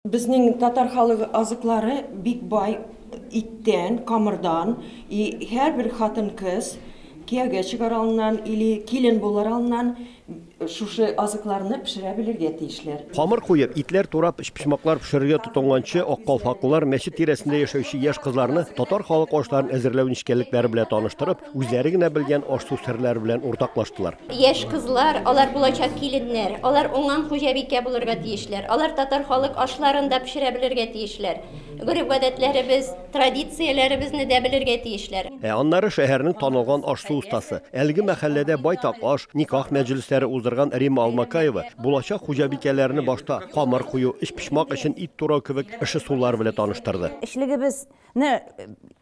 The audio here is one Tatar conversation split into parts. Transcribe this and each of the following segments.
Безнең татар халык азыклары бик бай иттән, камырдан, и һәрбер хатын-кыз кияүгә чыгар алыннан или килен булыр алыннан шушы азыкларны пешерә белергә тиешләр. Камыр куеп, итләр турап, өчпочмаклар пешерергә тотынганчы, ак калфаклылар мәчет тирәсендә яшәүче яшь кызларны татар халык ашларын әзерләү нечкәлекләре белән таныштырып, Үзләре генә белгән аш-су серләре белән уртаклаштылар. Яшь кызлар, алар булачак киленнәр. Алар уңган хуҗабикә булырга тиешләр. Алар татар халык ашларын да пешерә белергә тиешләр. Гореф-гадәтләребез, традицияләребезне дә белергә тиешләр. Ә аннары шәһәрнең танылган аш-су остасы, әлеге мәхәлләдә байтак аш, никах мәҗлесләре уздырган Римма Алмакаева булачак хуҗабикәләрне башта камыр кую, өчпочмак эчен ит турау кебек эше-сулар белән таныштырды. Эчлегебез не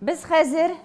Без хәзер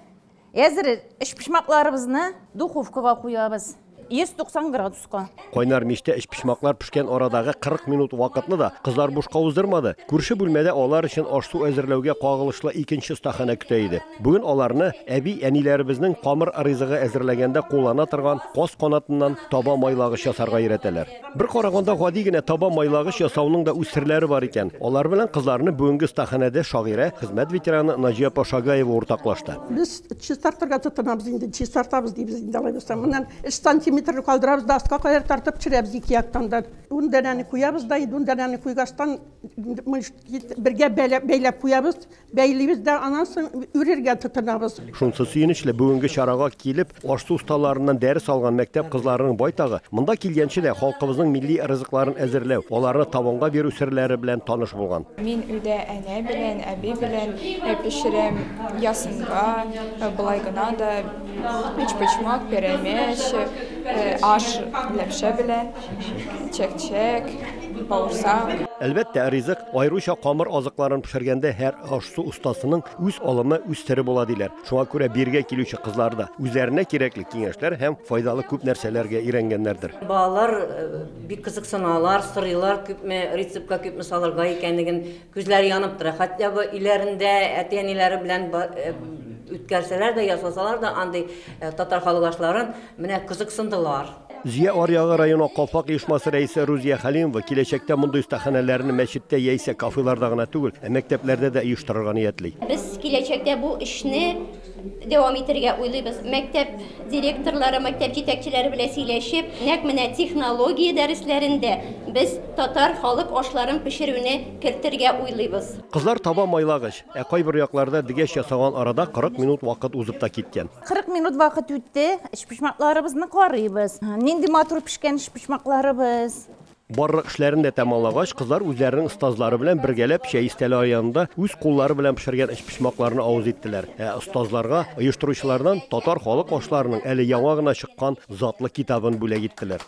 әзер эчпочмакларыбызны духовкага куябыз. 190 градуска. Кайнар мичтә эчпочмаклар пешкән арадагы 40 минут вакытны да кызлар бушка уздырмады. Күрше бүлмәдә алар өчен аш-су әзерләүгә кагылышлы икенче стахана көтә иде. Бүген аларны әби әниләребезнең камыр ризыгы әзерләгәндә куллана торган каз канатыннан таба майлагыч ясарга өйрәтәләр. Бер караганда гади генә таба майлагыч ясауның да үз серләре бар икән. Алар белән кызларны бүгенге стаханәдә шагыйрә, хезмәт ветераны Наҗия апа Шагаева уртаклашты. Без чистартырга тотынабыз инде, чистартабыз дибез инде алай булса. Моннан 3 сантиметр калдырабыз да аска кадәр тартып төшерәбез ике яктан да. Ун данәне куябыз да, ун данәне куйгачтан бергә бәйләп куябыз. Бәйлибез дә аннан соң үрергә тотынабыз. Шунсы сөенечле, бүгенге чарага килеп, аш-су осталарыннан дәрес алган мәктәп кызларының байтагы, монда килгәнче дә, халкыбызның милли ризыкларын әзерләү, аларны табынга бирү серләре белән таныш булган. Мин өйдә әнә белән, әби белән пешерәм, ясынга, болай гына да, өчпочмак, пәрәмәч, аш ләпшә белән, чәк-чәк, бавырсак. Әлбәттә, ризык Аеруча камыр азыкларын пешергәндә һәр аш-су остасының үз алымы, үз сере була, диләр. Шуңа күрә бирегә килүче кызлар да үзләренә кирәкле киңәшләр һәм файдалы күп нәрсәләргә өйрәнгәннәрдер. Балалар бик кызыксыналар, сорыйлар, күпме рецептка күпме салырга икәнлеген. Күзләре янып тора. Хотя бы өйләрендә әти-әниләре белән үткәрсәләр дә, ясасалар да андый татар халык ашларын, менә кызыксындылар. Зөя аръягы районы Калфак оешмасы рәисе Рузия Хәлимова киләчәктә мондый остаханәләрне мәчеттә яисә кафеларда гына түгел, ә мәктәпләрдә дә оештырырга ниятли. Без киләчәктә бу эшне дәвам итергә уйлыйбыз. Мәктәп директорлары, мәктәп җитәкчеләре белән сөйләшеп, нәкъ менә технология дәресләрен дә без татар халык ашларын пешерүне кертергә уйлыйбыз. Кызлар таба майлагыч, ә кайбер якларда дегәч ясаган арада 40 минут вакыт узып та киткән. 40 минут вакыт үтте. Эчпочмакларыбызны карыйбыз. Нинди матур пешкән эчпочмакларыбыз. Барлык эшләрен дә тәмамлагач, кызлар үзләренең остазлары белән бергәләп чәй истәле аянында үз куллары белән пешергән эчпочмакларны авыз иттеләр. Ә остазларга оештыручылардан татар халык ашларының әле яңа гына чыккан затлы китабын бүләк иттеләр.